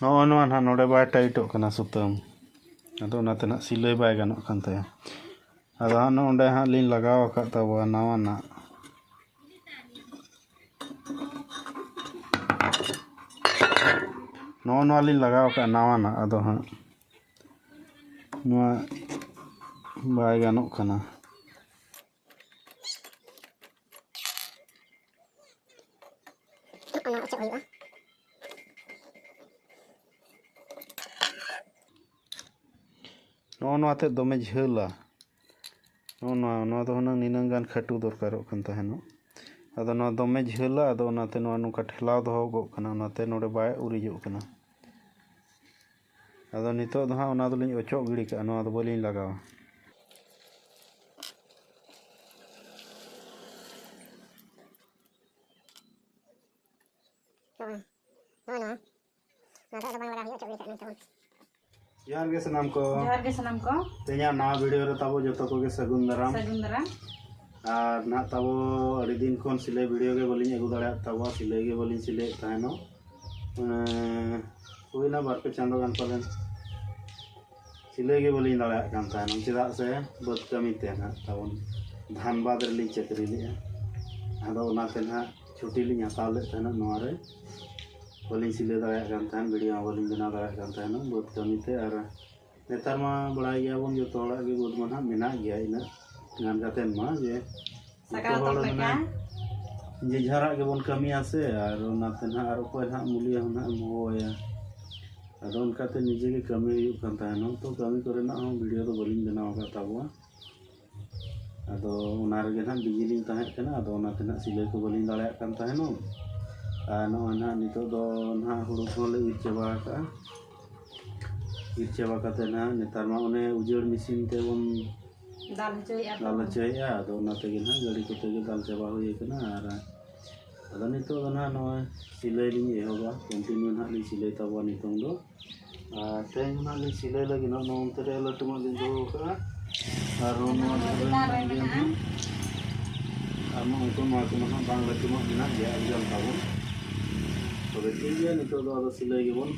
ᱱᱚᱜᱼᱚ ᱱᱚᱣᱟ ᱱᱟᱦᱟᱜ ᱱᱚᱰᱮ ᱵᱟᱭ ᱴᱟᱭᱤᱴᱚᱜ ᱠᱟᱱᱟ ᱥᱩᱛᱟᱹᱢ ᱟᱫᱚ ᱚᱱᱟᱛᱮ ᱱᱟᱦᱟᱜ ᱥᱤᱞᱟᱹᱭ ᱵᱟᱭ ᱜᱟᱱᱚᱜ ᱠᱟᱱ ᱛᱟᱭᱟ ᱟᱫᱚ ᱦᱟᱸᱜ ᱱᱚᱰᱮ ᱦᱟᱸᱜ ᱞᱤᱧ ᱞᱟᱜᱟᱣ ᱟᱠᱟᱫ ᱛᱟᱵᱚᱣᱟ ᱱᱟᱣᱟᱱᱟᱜ ᱱᱚᱜᱼᱚ ᱱᱚᱣᱟ ᱞᱤᱧ ᱞᱟᱜᱟᱣ ᱟᱠᱟᱫ ᱱᱟᱣᱟᱱᱟᱜ ᱟᱫᱚ ᱦᱟᱸᱜ ᱱᱚᱣᱟ ᱵᱟᱭ ᱜᱟᱱᱚᱜ ᱠᱟᱱᱟ ᱚᱱᱟ ᱚᱪᱚᱜ ᱦᱩᱭᱩᱜᱼᱟ ᱱᱚᱜᱼᱚ ᱱᱚᱣᱟ ᱛᱮᱫ ᱫᱚᱢᱮ ᱡᱷᱟᱹᱞᱟ ᱱᱚᱜᱼᱚ ᱱᱚᱣᱟ ᱱᱚᱣᱟ ᱫᱚ ᱦᱩᱱᱟᱹᱝ ᱱᱤᱱᱟᱹᱝ ᱜᱟᱱ ᱠᱷᱟᱹᱴᱩ ᱫᱚᱨᱠᱟᱨᱚᱜ ᱠᱟᱱ ᱛᱟᱦᱮᱱᱚᱜ ᱟᱫᱚ ᱱᱚᱣᱟ ᱫᱚᱢᱮ ᱡᱷᱟᱹᱞᱟ ᱟᱫᱚ ᱚᱱᱟᱛᱮ ᱱᱚᱣᱟ ᱱᱚᱝᱠᱟ ᱴᱷᱮᱞᱟᱣ ᱫᱚᱦᱚ ᱠᱚᱜ ᱠᱟᱱᱟ ᱚᱱᱟᱛᱮ ᱱᱚᱰᱮ ᱵᱟᱭ ᱩᱨᱤᱡᱚᱜ ᱠᱟᱱᱟ ᱟᱫᱚ ᱱᱤᱛᱚᱜ ᱫᱚ ᱦᱟᱸᱜ ᱚᱱᱟ ᱫᱚᱞᱤᱧ ᱚᱪᱚᱜ ᱜᱤᱰᱤ ᱠᱟᱜᱼᱟ ᱱᱚᱣᱟ ᱫᱚ ᱵᱟᱹᱞᱤᱧ ᱞᱟᱜᱟᱣᱟ ᱡᱚᱦᱟᱨ ᱜᱮ ᱥᱟᱱᱟᱢ ᱠᱚ ᱡᱚᱦᱟᱨ ᱜᱮ ᱥᱟᱱᱟᱢ ᱠᱚ ᱛᱮᱦᱮᱧᱟᱜ ᱱᱟᱣᱟ ᱵᱷᱤᱰᱤᱭᱳ ᱨᱮ ᱛᱟᱵᱚ ᱡᱚᱛᱚ ᱠᱚᱜᱮ ᱥᱟᱹᱜᱩᱱ ᱫᱟᱨᱟᱢ ᱥᱟᱹᱜᱩᱱ ᱫᱟᱨᱟᱢ ᱟᱨ ᱱᱟᱦᱟᱜ ᱛᱟᱵᱚ ᱟᱹᱰᱤ ᱫᱤᱱ ᱠᱷᱚᱱ ᱥᱤᱞᱟᱹᱭ ᱵᱷᱤᱰᱤᱭᱳ ᱜᱮ ᱵᱟᱹᱞᱤᱧ ᱟᱹᱜᱩ ᱫᱟᱲᱮᱭᱟᱜ ᱛᱟᱵᱚ ᱥᱤᱞᱟᱹᱭ ᱜᱮ ᱵᱟᱹᱞᱤᱧ ᱥᱤᱞᱟᱹᱭᱮᱫ ᱛᱟᱦᱮᱱᱚᱜ ᱦᱩᱭᱱᱟ ᱵᱟᱨ ᱯᱮ ᱪᱟᱸᱫᱚ ᱜᱟᱱ ᱯᱟᱞᱮᱱ ᱥᱤᱞᱟᱹᱭ ᱜᱮ ᱵᱟᱹᱞᱤᱧ ᱫᱟᱲᱮᱭᱟᱜ ᱠᱟᱱ ᱛᱟᱦᱮᱱᱟ ᱪᱮᱫᱟᱜ ᱥᱮ ᱵᱟᱹᱫᱽ ᱠᱟᱹᱢᱤ ᱛᱮ ᱱᱟᱦᱟᱜ ᱛᱟᱵᱚᱱ ᱫᱷᱟᱱᱵᱟᱫᱽ ᱨᱮᱞᱤᱧ ᱪᱟᱹᱠᱨᱤ ᱞᱮᱫᱼᱟ ᱟᱫᱚ ᱚᱱᱟᱛᱮ ᱱᱟᱦᱟᱜ ᱪᱷᱩᱴᱤ ᱞᱤᱧ ᱦᱟᱛᱟᱣ ᱞᱮᱫ ᱛᱟᱦᱮᱱᱟ ᱱᱚᱣᱟ ᱨᱮ ᱵᱟᱹᱞᱤᱧ ᱥᱤᱞᱟᱹᱭ ᱫᱟᱲᱮᱭᱟᱜ ᱠᱟᱱ ᱛᱟᱦᱮᱱ ᱵᱷᱤᱰᱤᱭᱳ ᱦᱚᱸ ᱵᱟᱹᱞᱤᱧ ᱵᱮᱱᱟᱣ ᱫᱟᱲᱮᱭᱟᱜ ᱠᱟᱱ ᱛᱟᱦᱮᱱᱟ ᱵᱟᱹᱫᱽ ᱠᱟᱹᱢᱤ ᱛᱮ ᱟᱨ ᱱᱮᱛᱟᱨ ᱢᱟ ᱵᱟᱲᱟᱭ ᱜᱮᱭᱟ ᱵᱚᱱ ᱡᱚᱛᱚ ᱦᱚᱲᱟᱜ ᱜᱮ ᱵᱳᱴ ᱢᱟ ᱱᱟᱦᱟᱜ ᱢᱮᱱᱟᱜ ᱜᱮᱭᱟ ᱤᱱᱟᱹᱜ ᱜᱟᱱ ᱠᱟᱛᱮ ᱢᱟ ᱡᱮ ᱡᱚᱛᱚ ᱦᱚᱲ ᱢᱟᱱᱮ ᱡᱮ ᱡᱷᱟᱨᱟᱜ ᱜᱮᱵᱚᱱ ᱠᱟᱹᱢᱤᱭᱟ ᱥᱮ ᱟᱨ ᱚᱱᱟᱛᱮ ᱱᱟᱦᱟᱜ ᱟᱨ ᱚᱠᱚᱭ ᱱᱟᱦᱟᱜ ᱢᱩᱞᱤᱭᱟᱹ ᱦᱚᱸ ᱱᱟᱦᱟᱜ ᱮᱢ ᱦᱚᱦᱚᱣᱟᱭᱟ ᱟᱫᱚ ᱚᱱᱠᱟᱛᱮ ᱱᱤᱡᱮ ᱜᱮ ᱠᱟᱹᱢᱤ ᱦᱩᱭᱩᱜ ᱠᱟᱱ ᱛᱟᱦᱮᱱᱚᱜ ᱛᱚ ᱠᱟᱹᱢᱤ ᱠᱚᱨᱮᱱᱟᱜ ᱦᱚᱸ ᱵᱷᱤᱰᱭᱳ ᱫᱚ ᱵᱟᱹᱞᱤᱧ ᱵᱮᱱᱟᱣ ᱟᱠᱟᱫ ᱛᱟᱵᱚᱣᱟ ᱟᱫᱚ ᱚᱱᱟ ᱨᱮᱜᱮ ᱱᱟᱜ ᱵᱤᱡᱤ ᱞᱤᱧ ᱛᱟᱦᱮᱸ ᱠᱟᱱᱟ ᱟᱫᱚ ᱚᱱᱟᱛᱮ ᱱᱟᱜ ᱥᱤᱞᱟᱹᱭ ᱠᱚ ᱵᱟᱹᱞᱤᱧ ᱫᱟᱲᱮᱭᱟᱜ ᱠᱟᱱ ᱛᱟᱦᱮᱱᱚᱜ ᱟᱨ ᱱᱚᱜᱼᱚᱭ ᱱᱟᱜ ᱱᱤᱛᱚᱜ ᱫᱚ ᱱᱟᱜ ᱦᱩᱲᱩ ᱠᱚᱦᱚᱸ ᱞᱮ ᱤᱨ ᱪᱟᱵᱟ ᱠᱟᱜᱼᱟ ᱤᱨ ᱪᱟᱵᱟ ᱠᱟᱛᱮ ᱱᱟᱜ ᱱᱮᱛᱟᱨ ᱢᱟ ᱚᱱᱮ ᱩᱡᱟᱹᱲ ᱢᱮᱥᱤᱱ ᱛᱮᱵᱚᱱ ᱫᱟᱞ ᱦᱚᱪᱚᱭᱮᱫᱼᱟ ᱠᱚ ᱫᱟᱞ ᱦᱚᱪᱚᱭᱮᱫᱼᱟ ᱟᱫᱚ ᱚᱱᱟ ᱛᱮᱜᱮ ᱱᱟᱜ ᱜᱟᱹᱰᱤ ᱠᱚᱛᱮ ᱜᱮ ᱫᱟᱞ ᱪᱟᱵᱟ ᱦᱩᱭ ᱠᱟᱱᱟ ᱟᱨ ᱟᱫᱚ ᱱᱤᱛᱚᱜ ᱫᱚ ᱱᱟᱜ ᱱᱚᱜᱼᱚᱭ ᱥᱤᱞᱟᱹᱭ ᱞᱤᱧ ᱮᱦᱚᱵᱟ ᱠᱚᱱᱴᱤᱱᱤᱭᱩ ᱱᱟᱜ ᱞᱤᱧ ᱥᱤᱞᱟᱹᱭ ᱛᱟᱵᱚᱣᱟ ᱱᱤᱛᱚᱝ ᱫᱚ ᱛᱮᱦᱮᱧ ᱦᱟᱸᱜ ᱞᱤᱧ ᱥᱤᱞᱟᱹᱭ ᱞᱟᱹᱜᱤᱫ ᱱᱚᱜᱼᱚ ᱱᱚᱛᱮ ᱨᱮ ᱞᱟᱹᱴᱩᱣᱟᱜ ᱞᱤᱧ ᱫᱚᱦᱚ ᱠᱟᱜᱼᱟ ᱟᱨ ᱱᱚᱣᱟ ᱪᱮᱛᱟᱱ ᱨᱮ ᱢᱮᱱᱟᱜᱼᱟ ᱟᱨ ᱱᱚᱜᱼᱚᱭ ᱛᱚ ᱱᱚᱣᱟ ᱠᱚᱢᱟ ᱦᱟᱸᱜ ᱵᱟᱝ ᱞᱟᱹᱴᱩᱣᱟᱜ ᱢᱮᱱᱟᱜ ᱜᱮᱭᱟ ᱟᱹᱰᱤ ᱜᱟᱱ ᱛᱟᱵᱚᱱ ᱛᱚᱵᱮ ᱴᱷᱤᱠ ᱜᱮᱭᱟ ᱱᱤᱛᱚᱜ ᱫᱚ ᱟᱫᱚ ᱥᱤᱞᱟᱹᱭ ᱜᱮᱵᱚᱱ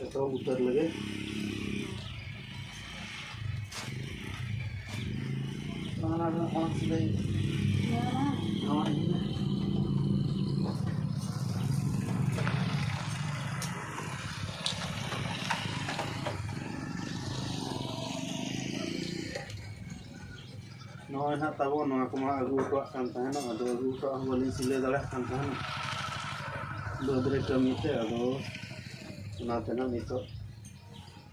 ᱮᱛᱚᱦᱚᱵ ᱩᱛᱟᱹᱨ ᱞᱮᱜᱮ ᱱᱚᱜᱼᱚᱭ ᱱᱟᱦᱟᱜ ᱛᱟᱵᱚ ᱱᱚᱣᱟ ᱠᱚᱢᱟ ᱟᱹᱜᱩ ᱦᱚᱴᱚᱣᱟᱜ ᱠᱟᱱ ᱛᱟᱦᱮᱱᱚᱜ ᱟᱫᱚ ᱟᱹᱜᱩ ᱦᱚᱴᱚᱣᱟᱜ ᱦᱚᱸ ᱵᱟᱹᱞᱤᱧ ᱥᱤᱞᱟᱹᱭ ᱫᱟᱲᱮᱭᱟᱜ ᱠᱟᱱ ᱛᱟᱦᱮᱱᱚᱜ ᱵᱟᱹᱫᱽ ᱨᱮ ᱠᱟᱹᱢᱤ ᱛᱮ ᱟᱫᱚ ᱚᱱᱟᱛᱮ ᱱᱟᱦᱟᱜ ᱱᱤᱛᱚᱜ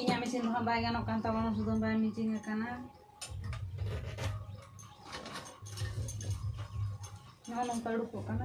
ᱤᱧᱟᱹᱜ ᱢᱮᱥᱤᱱ ᱫᱚ ᱦᱟᱸᱜ ᱵᱟᱭ ᱜᱟᱱᱚᱜ ᱠᱟᱱ ᱛᱟᱵᱚᱱᱟ ᱥᱩᱫᱷᱩ ᱵᱟᱭ ᱢᱤᱴᱤᱝ ᱟᱠᱟᱱᱟ ᱱᱚᱜᱼᱚ ᱱᱚᱝᱠᱟ ᱩᱰᱩᱠᱚᱜ ᱠᱟᱱᱟ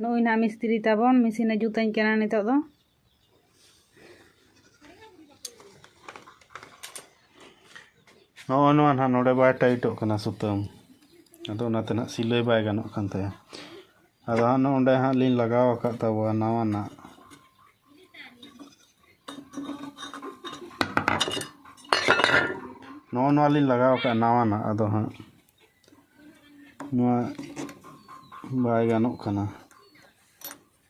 ᱱᱚᱜᱼᱚᱭ ᱱᱟᱦᱟᱜ ᱢᱤᱥᱛᱨᱤ ᱛᱟᱵᱚᱱ ᱢᱮᱥᱤᱱᱮ ᱡᱩᱛᱟᱹᱧ ᱠᱟᱱᱟ ᱱᱤᱛᱚᱜ ᱫᱚ ᱱᱚᱜᱼᱚ ᱱᱚᱣᱟ ᱱᱟᱦᱟᱜ ᱱᱚᱰᱮ ᱵᱟᱭ ᱴᱟᱭᱤᱴᱚᱜ ᱠᱟᱱᱟ ᱥᱩᱛᱟᱹᱢ ᱟᱫᱚ ᱚᱱᱟᱛᱮ ᱱᱟᱦᱟᱜ ᱥᱤᱞᱟᱹᱭ ᱵᱟᱭ ᱜᱟᱱᱚᱜ ᱠᱟᱱ ᱛᱟᱭᱟ ᱟᱫᱚ ᱦᱟᱸᱜ ᱱᱚᱸᱰᱮ ᱦᱟᱸᱜ ᱞᱤᱧ ᱞᱟᱜᱟᱣ ᱟᱠᱟᱫ ᱛᱟᱵᱚᱣᱟ ᱱᱟᱣᱟᱱᱟᱜ ᱱᱚᱜᱼᱚ ᱱᱚᱣᱟ ᱞᱤᱧ ᱞᱟᱜᱟᱣ ᱟᱠᱟᱫ ᱱᱟᱣᱟᱱᱟᱜ ᱟᱫᱚ ᱦᱟᱸᱜ ᱱᱚᱣᱟ ᱵᱟᱭ ᱜᱟᱱᱚᱜ ᱠᱟᱱᱟ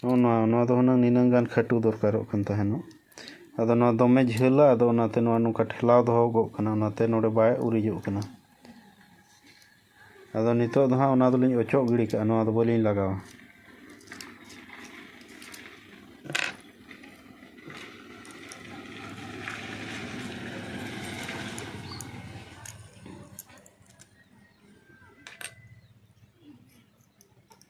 ᱱᱚᱜᱼᱚ ᱱᱚᱣᱟ ᱱᱚᱣᱟ ᱫᱚ ᱦᱩᱱᱟᱹᱝ ᱱᱤᱱᱟᱹᱝ ᱜᱟᱱ ᱠᱷᱟᱹᱴᱩ ᱫᱚᱨᱠᱟᱨᱚᱜ ᱠᱟᱱ ᱛᱟᱦᱮᱱᱚᱜ ᱟᱫᱚ ᱱᱚᱣᱟ ᱫᱚᱢᱮ ᱡᱷᱟᱹᱞᱟ ᱟᱫᱚ ᱚᱱᱟᱛᱮ ᱱᱚᱣᱟ ᱱᱚᱝᱠᱟ ᱴᱷᱮᱞᱟᱣ ᱫᱚᱦᱚ ᱜᱚᱜ ᱠᱟᱱᱟ ᱚᱱᱟᱛᱮ ᱱᱚᱰᱮ ᱵᱟᱭ ᱩᱨᱤᱡᱚᱜ ᱠᱟᱱᱟ ᱟᱫᱚ ᱱᱤᱛᱚᱜ ᱫᱚ ᱦᱟᱸᱜ ᱚᱱᱟ ᱫᱚᱞᱤᱧ ᱚᱪᱚᱜ ᱜᱤᱰᱤ ᱠᱟᱜᱼᱟ ᱱᱚᱣᱟ ᱫᱚ ᱵᱟᱹᱞᱤᱧ ᱞᱟᱜᱟᱣᱟ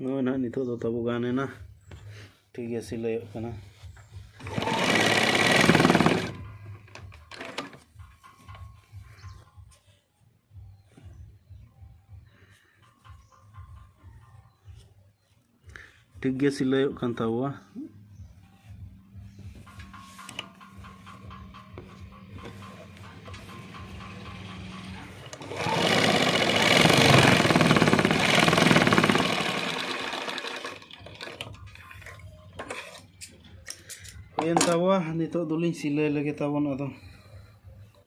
ᱱᱚᱜᱼᱚᱭ ᱱᱟᱦᱟᱜ ᱱᱤᱛᱚᱜ ᱫᱚ ᱛᱟᱵᱚ ᱜᱟᱱ ᱮᱱᱟ ᱴᱷᱤᱠ ᱜᱮ ᱥᱤᱞᱟᱹᱭᱚᱜ ᱠᱟᱱᱟ ᱴᱷᱤᱠ ᱜᱮ ᱥᱤᱞᱟᱹᱭᱚᱜ ᱠᱟᱱ ᱛᱟᱵᱚᱣᱟ ᱦᱩᱭᱮᱱ ᱛᱟᱵᱚᱣᱟ ᱱᱤᱛᱚᱜ ᱫᱚᱞᱤᱧ ᱥᱤᱞᱟᱹᱭ ᱞᱮᱜᱮ ᱛᱟᱵᱚᱱ ᱟᱫᱚ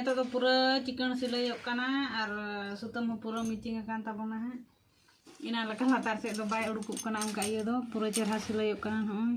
ᱱᱤᱛᱚᱜ ᱫᱚ ᱯᱩᱨᱟᱹ ᱪᱤᱠᱟᱹᱬ ᱥᱤᱞᱟᱹᱭᱚᱜ ᱠᱟᱱᱟ ᱟᱨ ᱥᱩᱛᱟᱹᱢ ᱦᱚᱸ ᱯᱩᱨᱟᱹ ᱢᱤᱪᱤᱝ ᱟᱠᱟᱱ ᱛᱟᱵᱚᱱᱟ ᱦᱟᱸᱜ ᱤᱱᱟ ᱞᱮᱠᱟ ᱞᱟᱛᱟᱨ ᱥᱮᱫ ᱫᱚ ᱵᱟᱭ ᱩᱰᱩᱠᱚᱜ ᱠᱟᱱᱟ ᱚᱱᱠᱟ ᱤᱭᱟᱹ ᱫᱚ ᱯᱩᱨᱟᱹ ᱪᱮᱨᱦᱟ ᱥᱤᱞᱟᱹᱭᱚᱜ ᱠᱟᱱᱟ ᱱᱚᱜᱼᱚᱭ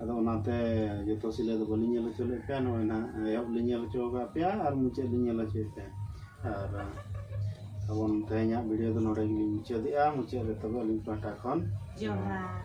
ᱟᱫᱚ ᱚᱱᱟᱛᱮ ᱡᱚᱛᱚ ᱥᱤᱞᱟᱹᱭ ᱫᱚ ᱵᱟᱹᱞᱤᱧ ᱧᱮᱞ ᱦᱚᱪᱚ ᱞᱮᱫ ᱯᱮᱭᱟ ᱱᱚᱜᱼᱚᱭ ᱱᱟᱦᱟᱜ ᱮᱦᱚᱵ ᱞᱤᱧ ᱧᱮᱞ ᱦᱚᱪᱚ ᱟᱠᱟᱫ ᱯᱮᱭᱟ ᱟᱨ ᱢᱩᱪᱟᱹᱫ ᱞᱤᱧ ᱧᱮᱞ ᱦᱚᱪᱚᱭᱮᱫ ᱯᱮᱭᱟ ᱟᱨ ᱛᱟᱵᱚᱱ ᱛᱮᱦᱮᱧᱟᱜ ᱵᱷᱤᱰᱤᱭᱳ ᱫᱚ ᱱᱚᱰᱮ ᱜᱮᱞᱤᱧ ᱢᱩᱪᱟᱹᱫᱮᱜᱼᱟ ᱢᱩᱪᱟᱹᱫ ᱨᱮ ᱛᱚᱵᱮ ᱟᱹᱞᱤᱧ ᱯᱟᱦᱴᱟ ᱠᱷᱚᱱ ᱡᱚᱦᱟᱨ